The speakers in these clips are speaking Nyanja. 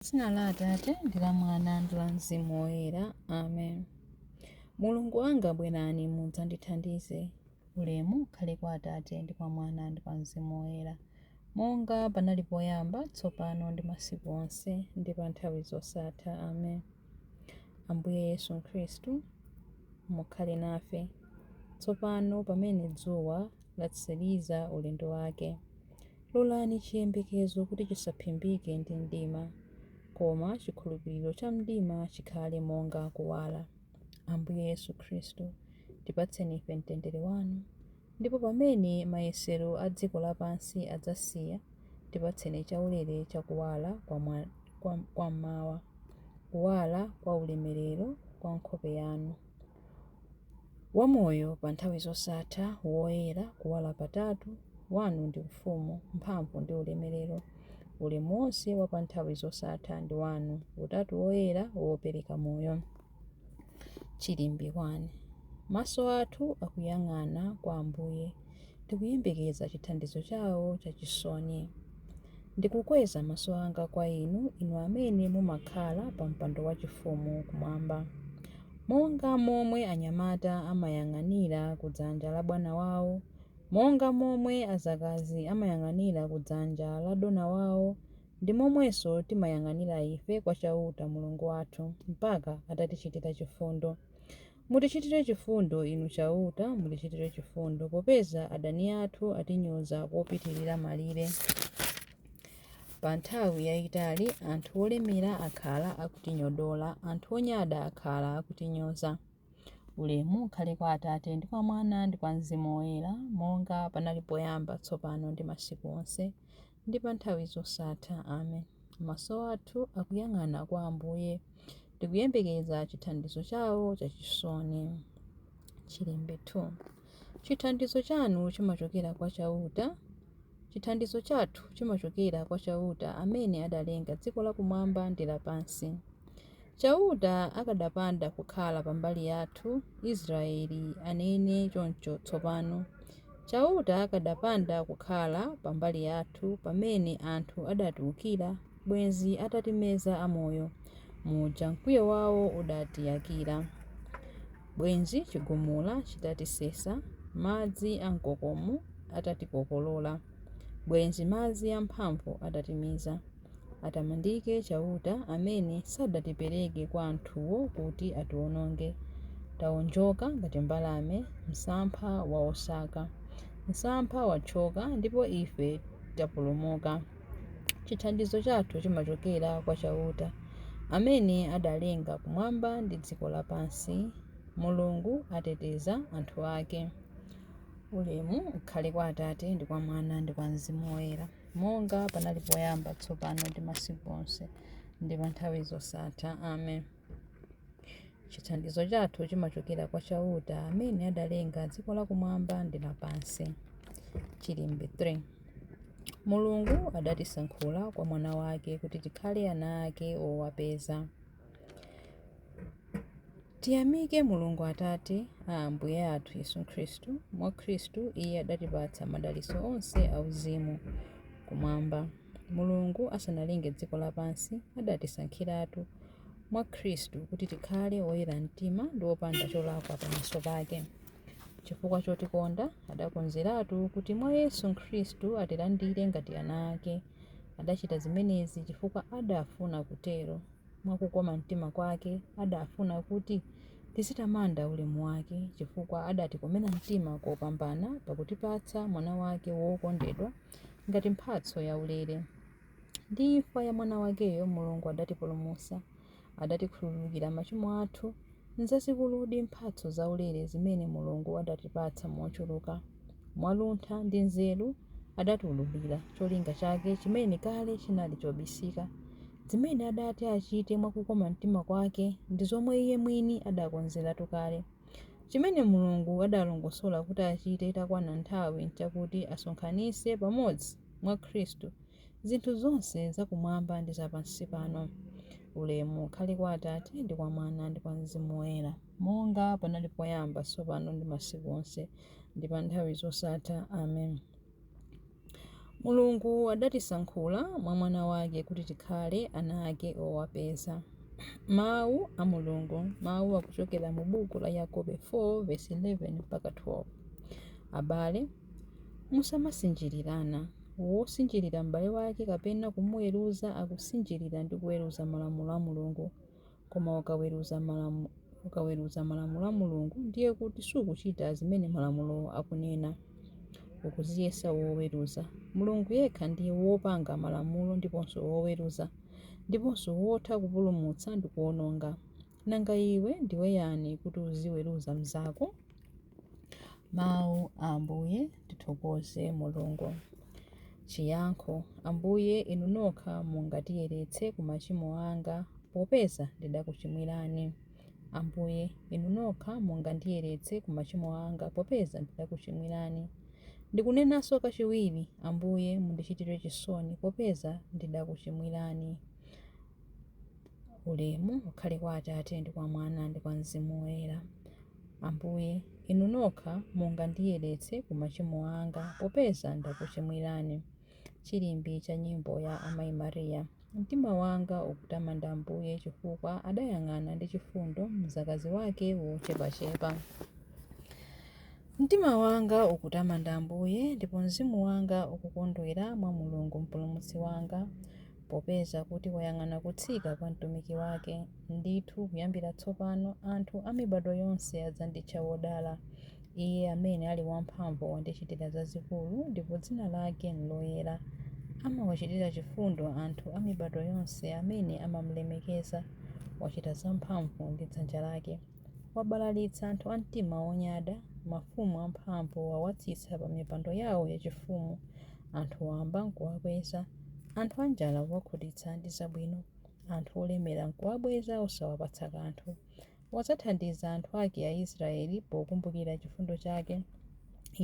Dzina la Atate ndi la Mwana ndi la Mzimu Woyera. Amen. Mulungu wanga bwerani mudzandithandize. Ulemu ukhale kwa Atate ndi kwa Mwana ndi kwa Mzimu Woyera, monga panali poyamba, tsopano ndi masiku onse, ndi pa nthawi zosatha. Amen. Ambuye Yesu Khristu, mukhale nafe tsopano pamene dzuwa latsiriza ulendo wake. Lolani chiyembekezo kuti chisaphimbike ndi mdima, koma chikhulupiriro cha mdima chikhale monga kuwala. Ambuye Yesu Khristu, tipatseni ife mtendere wanu, ndipo pamene mayesero a dziko lapansi adzasiya, tipatseni chaulere cha kuwala kwa mmawa, kuwala kwa ulemerero kwa nkhope yanu. Wamoyo pa nthawi zosatha, woyera, kuwala patatu, Wanu ndi Ufumu, mphamvu ndi ulemelero, ulemu wonse wa pa nthawi zosatha ndi Wanu, Utatu Woyera wopereka Moyo. Chilimbi 1. Maso athu akuyang'ana kwa Ambuye, tikuyembekeza chithandizo chawo chachisoni. Ndikukweza maso anga kwa inu, inu amene mumakhala pa mpando wachifumu kumwamba. Monga momwe anyamata amayang'anira ku dzanja la bwana wawo, monga momwe adzakazi amayang'anira ku dzanja la dona wawo, ndi momwenso timayang'anira ife kwa Chauta, Mulungu wathu, mpaka atatichitira chifundo. Mutichitire chifundo, Inu Chauta, mutichitire chifundo, popeza adani athu atinyoza kopitirira malire. Pa nthawi yaitali anthu olemera akhala akutinyodola, anthu onyada akhala akutinyoza. Ulemu ukhale kwa Atate, ndi kwa Mwana, ndi kwa Mzimu Woyera, monga panali poyamba, tsopano ndi masiku onse, ndi pa nthawi zosatha. Amen. Maso athu akuyang'ana kwa Ambuye, tikuyembekeza chithandizo chawo chachisoni. Chilimbi 2. Chithandizo chanu chimachokera kwa Chauta. Chithandizo chathu chimachokera kwa Chauta amene adalenga dziko lakumwamba ndi lapansi. Chauta akadapanda kukhala pa mbali yathu, Israele anene choncho tsopano. Chauta akadapanda kukhala pa mbali yathu pamene anthu adatiwukira, bwenzi atatimeza amoyo, muja mkwiyo wao udatiyakira. Bwenzi chigumula chitatisesa, madzi amkokomo atatikokolola, bwenzi madzi amphamvu atatimiza. Atamandike Chauta amene sadatipereke kwa anthuwo kuti atiwononge. Taonjoka ngati mbalame, msampha wa osaka. Msampha wathyoka, ndipo ife tapulumuka. Chithandizo chathu chimachokera kwa Chauta, amene adalenga kumwamba ndi dziko lapansi. Mulungu ateteza anthu ake. Ulemu ukhale kwa Atate, ndi kwa Mwana, ndi kwa Mzimu Woyera. Monga panali poyamba, tsopano ndi masiku onse, ndi pa nthawi zosatha. Amen. Chithandizo chathu chimachokera kwa Chauta amene adalenga dziko lakumwamba ndi lapansi. Chilimbi 3 Mulungu adatisankhula kwa Mwana wake kuti tikhale ana ake owapeza. Tiyamike Mulungu Atate a Ambuye athu Yesu Khristu, mwa Khristu Iye adatipatsa madalitso onse auzimu Kumwamba. Mulungu asanalenge dziko lapansi, adatisankhiratu mwa Khristu kuti tikhale oyera mtima ndi opanda cholakwa pamaso pake. Chifukwa chotikonda, adakonzeratu kuti mwa Yesu Khristu atilandire ngati ana ake. Adachita zimenezi chifukwa adafuna kutero. Mwa kukoma mtima kwake, adafuna kuti tizitamanda ulemu wake, chifukwa adatikomera mtima kopambana pakutipatsa Mwana wake wokondedwa ngati mphatso yaulere. Ndi imfa ya Mwana wakeyo Mulungu adatipulumutsa. Adatikhululukira machimo athu. Nzazikuludi mphatso zaulere zimene Mulungu adatipatsa mochuluka! Mwa luntha ndi nzeru adatiwululira cholinga chake chimene kale chinali chobisika. zimene adati achite mwa kukoma mtima kwake ndi zomwe iye mwini adakonzeratu kale. Chimene Mulungu adalongosola kuti achite itakwana nthawi nchakuti asonkhanitse pamodzi, mwa Khristu, zinthu zonse zakumwamba ndi zapansi pano. Ulemu ukhale kwa Atate, ndi kwa Mwana, ndi kwa Mzimu Woyera. monga panali poyamba, tsopano ndi masiku onse, ndi pa nthawi zosatha. Amen. Mulungu adatisankhula mwa Mwana wake kuti tikhale ana ake owapeza. Mawu a Mulungu, mawu akuchokera mu buku la Yakobo 4 verse 11 mpaka 12. Abale, musamasinjirirana. Wosinjirira m'bale wake kapena kumuweruza akusinjirira ndi kuweruza malamulo a Mulungu. Koma ukaweruza malamu, ukaweruza malamulo a Mulungu ndiye kuti sukuchita zimene malamulo akunena. Ukudziyesa woweruza. Mulungu yekha ndiye wopanga malamulo ndiponso woweruza, ndiponso wotha kupulumutsa ndi kuwononga. Nanga iwe ndiwe yani kuti uziweruza mnzako? Mawu a Ambuye. Tithokoze Mulungu. Chiyankho. Ambuye, Inu nokha mungandiyeretse ku machimo anga, popeza ndidakuchimwirani. Ambuye, Inu nokha mungandiyeretse ku machimo anga, popeza ndidakuchimwirani. Ndikunenanso kachiwiri, Ambuye, mundichitire chisoni, popeza ndidakuchimwirani. Ulemu ukhale kwa Atate, ndi kwa Mwana, ndi kwa Mzimu Woyera. Ambuye, Inu nokha mungandiyeretse ku machimo anga popeza ndakuchimwirani. Chilimbi cha Nyimbo ya Amai Maria. Mtima wanga ukutamanda Ambuye chifukwa adayang'ana ndi chifundo mzakazi wake wochepachepa. Mtima wanga ukutamanda Ambuye, ndipo mzimu wanga ukukondwera mwa Mulungu Mpulumutsi wanga, Popeza kuti wayang'ana kutsika kwa mtumiki wake, ndithu kuyambira tsopano anthu a mibadwo yonse adzanditcha wodala. Iye amene ali wamphamvu wandichitira zazikulu, ndipo dzina lake n'loyera. Amawachitira chifundo anthu a mibadwo yonse amene amam'lemekeza. Wachita zamphamvu ndi dzanja lake. Wabalalitsa anthu a mtima wonyada, mafumu amphamvu wawatsitsa pamipando yawo yachifumu, anthu wamba n'kuwakweza. Anthu anjala wawakhutitsa ndi zabwino, anthu olemera nkuwabweza osawapatsa kanthu. Wadzathandiza anthu ake Aisraele pokumbukira chifundo chake.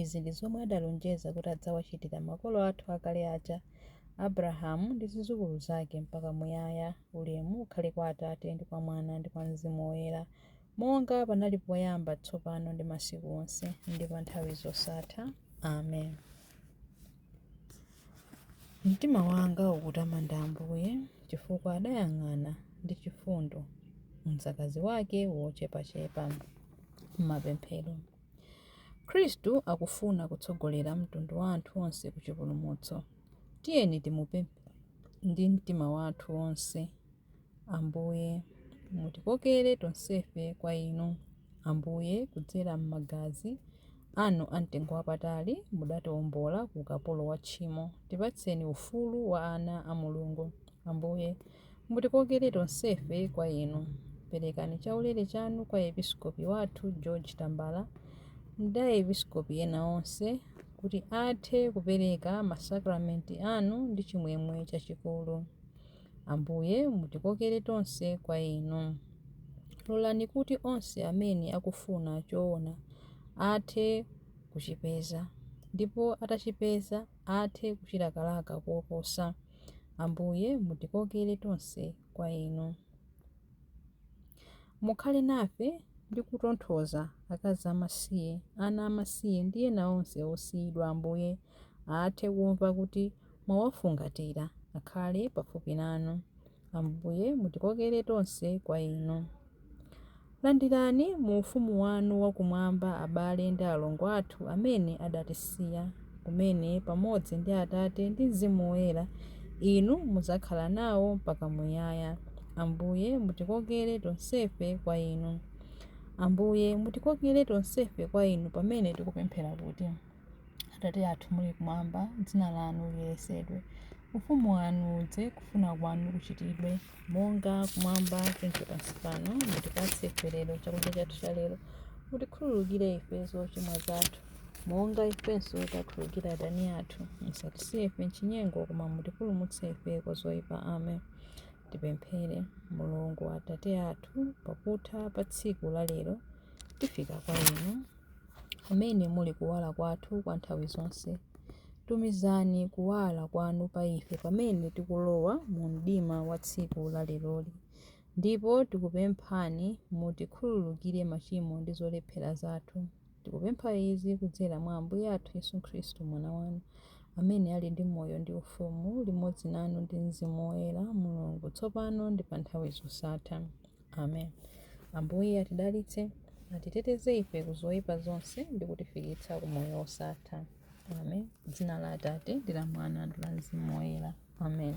Izi ndi zomwe adalonjeza kuti adzawachitira makolo athu akale aja, Abrahamu ndi zidzukulu zake mpaka muyaya. Ulemu ukhale kwa Atate, ndi kwa Mwana, ndi kwa Mzimu Woyera, monga panali poyamba, tsopano ndi masiku onse, ndi pa nthawi zosatha. Amen. Mtima wanga ukutamanda Ambuye, chifukwa adayang'ana ndi chifundo mdzakazi wake wochepachepa. Mapemphero. Khristu akufuna kutsogolera mtundu wa anthu onse ku chipulumutso. Tiyeni timupemphe ndi mtima wathu wonse. Ambuye, mutikokere tonsefe kwa Inu. Ambuye, kudzera m'magazi Anu a mtengo wapatali, mudatiombola ku ukapolo wa tchimo. Tipatseni ufulu wa ana a Mulungu. Ambuye, mutikokere tonsefe kwa Inu. Perekani chaulere Chanu kwa Episkopi wathu George Tambala ndi a Episkopi ena onse, kuti athe kupereka masakramenti Anu ndi chimwemwe chachikulu. Ambuye, mutikokere tonse kwa Inu. Lolani kuti onse amene akufuna choona athe kuchipeza, ndipo atachipeza athe kuchilakalaka koposa. Ambuye, mutikokere tonse kwa Inu. Mukhale nafe ndi kutonthoza akazi amasiye, ana amasiye, ndi ena onse osiyidwa, Ambuye, athe kumva kuti mwawafungatira, akhale pafupi nanu. Ambuye, mutikokere tonse kwa Inu. Landirani mu ufumu wanu wakumwamba abale ndi alongo athu amene adatisiya, kumene pamodzi ndi Atate ndi Mzimu Woyera Inu mudzakhala nawo mpaka muyaya. Ambuye, mutikokere tonsefe kwa Inu. Ambuye, mutikokere tonsefe kwa Inu pamene tikupemphera kuti. Atate athu muli kumwamba, dzina lanu liyeretsedwe. Ufumu wanu udze, kufuna kwanu kuchitidwe. Monga kumwamba choncho pansi pano, mutipatse ife lero chakudya chathu cha lero. Mutikhululukire ife zochimwa zathu, monga ifenso takhululukira adani athu. Musatisiye ife m'chinyengo, koma mutipulumutse ife kwa zoyipa. Amen. Tipemphere. Mulungu Atate athu, pakutha pa tsiku la lero tifika kwa inu. amene muli kuwala kwathu kwa nthawi zonse. Tumizani kuwala kwanu pa ife pamene tikulowa mu mdima wa tsiku la leroli. Ndipo tikupemphani mutikhululukire machimo ndi zolephera zathu. Tikupempha izi kudzera mwa Ambuye athu Yesu Khristu, Mwana wanu, amene ali ndi moyo ndi ufumu limodzi nanu ndi Mzimu Woyera, Mulungu, tsopano ndi pa nthawi zosatha. amen ambuye atidalitse atiteteze ife ku zoyipa zonse ndi kutifikitsa ku moyo wosatha amen dzina la atate ndi la mwana ndi la mzimu woyera amen